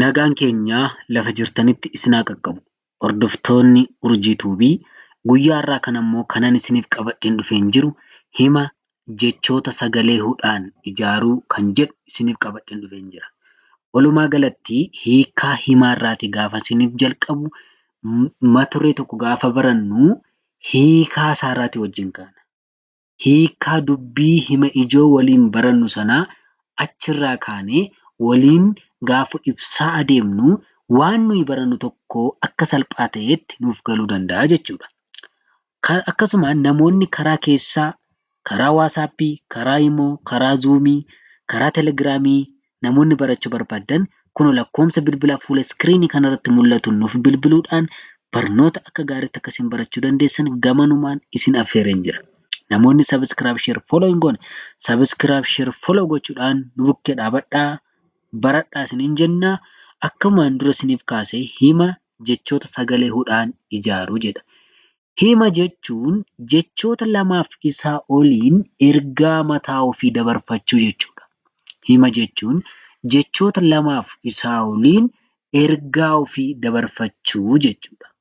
Nagaan keenya lafa jirtanitti isin haa qaqqabu. Hordoftoonni Urjii Tuubii guyyaa har'aa kana immoo kanan isiniif qabadheen dhufeen jiru hima jechoota sagalee hudhaan ijaaruu kan jedhu isiniif qabadheen dhufeen jira. Walumaa galatti hiikaa himaa irraati gaafa isiniif jalqabu maturee tokko gaafa barannu hiikaa isaa irraati wajjin kaana. hiikkaa dubbii hima ijoo waliin barannu sanaa achirraa kaanee waliin gaafa ibsaa adeemnu waan nuyi barannu tokko akka salphaa ta'eetti nuuf galuu danda'a jechuudha. Akkasumaan namoonni karaa keessaa, karaa waasaappii, karaa imoo, karaa zuumii, karaa telegiraamii Namoonni barachuu barbaaddan kunoo lakkoomsa bilbilaa fuula iskiriinii kana irratti mul'atuun nuuf bilbiluudhaan barnoota akka gaariitti akka isin barachuu dandeessan gamanumaan isin affeereen jira. Namoonni subscribe share follow hin goone subscribe share follow gochuudhaan nu bukkee dhaabadhaa baradhaa isiniin jenna akkumaan dura isiniif kaase hima jechoota sagalee hudhaan ijaaru jedha. Hima jechuun jechoota lamaaf isaa oliin ergaa mataa ofii dabarfachuu jechuudha. Hima jechuun jechoota lamaaf isaa oliin ergaa ofii dabarfachuu jechuudha.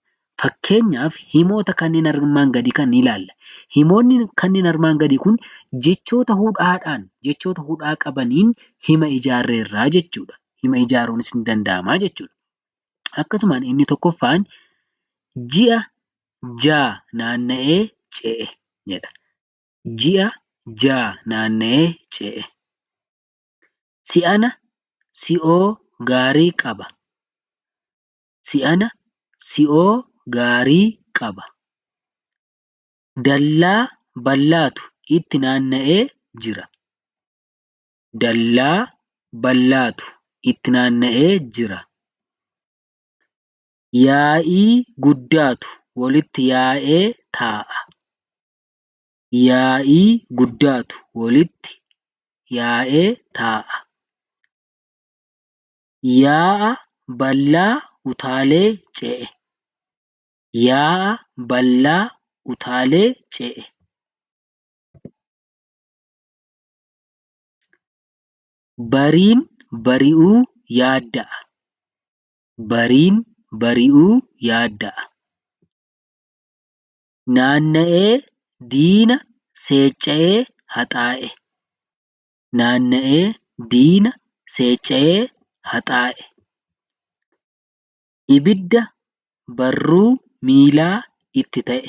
Fakkeenyaaf himoota kanneen armaan gadii kana ni ilaalla. Himoonni kanneen armaan gadii kun jechoota hudhaadhaan, jechoota hudhaa qabaniin hima ijaarreerra jechuudha. Hima ijaaruunis ni danda'ama jechuudha. Akkasumaan inni tokkoffaan ji'a ja'a naanna'ee ce'e jedha. Ji'a ja'a naanna'ee ce'e. Si'ana si'oo gaarii qaba. Si'ana si'oo gaarii qaba. Dallaa bal'aatu itti naanna'ee jira. dallaa bal'aatu itti naanna'ee jira. Yaa'ii guddaatu walitti yaa'ee taa'a. Yaa'ii guddaatu walitti yaa'ee taa'a. Yaa'a bal'aa utaalee ce'e. Yaa'a bal'aa utaalee ce'e. Bariin bari'uu yaadda'a. Bariin bari'uu yaadda'a. Naanna'ee diina seecca'ee haxaa'e. Naanna'ee diina seecca'ee haxaa'e. Ibidda barruu miilaa itti ta'e.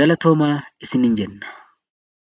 Galatoomaa isiniin jenna.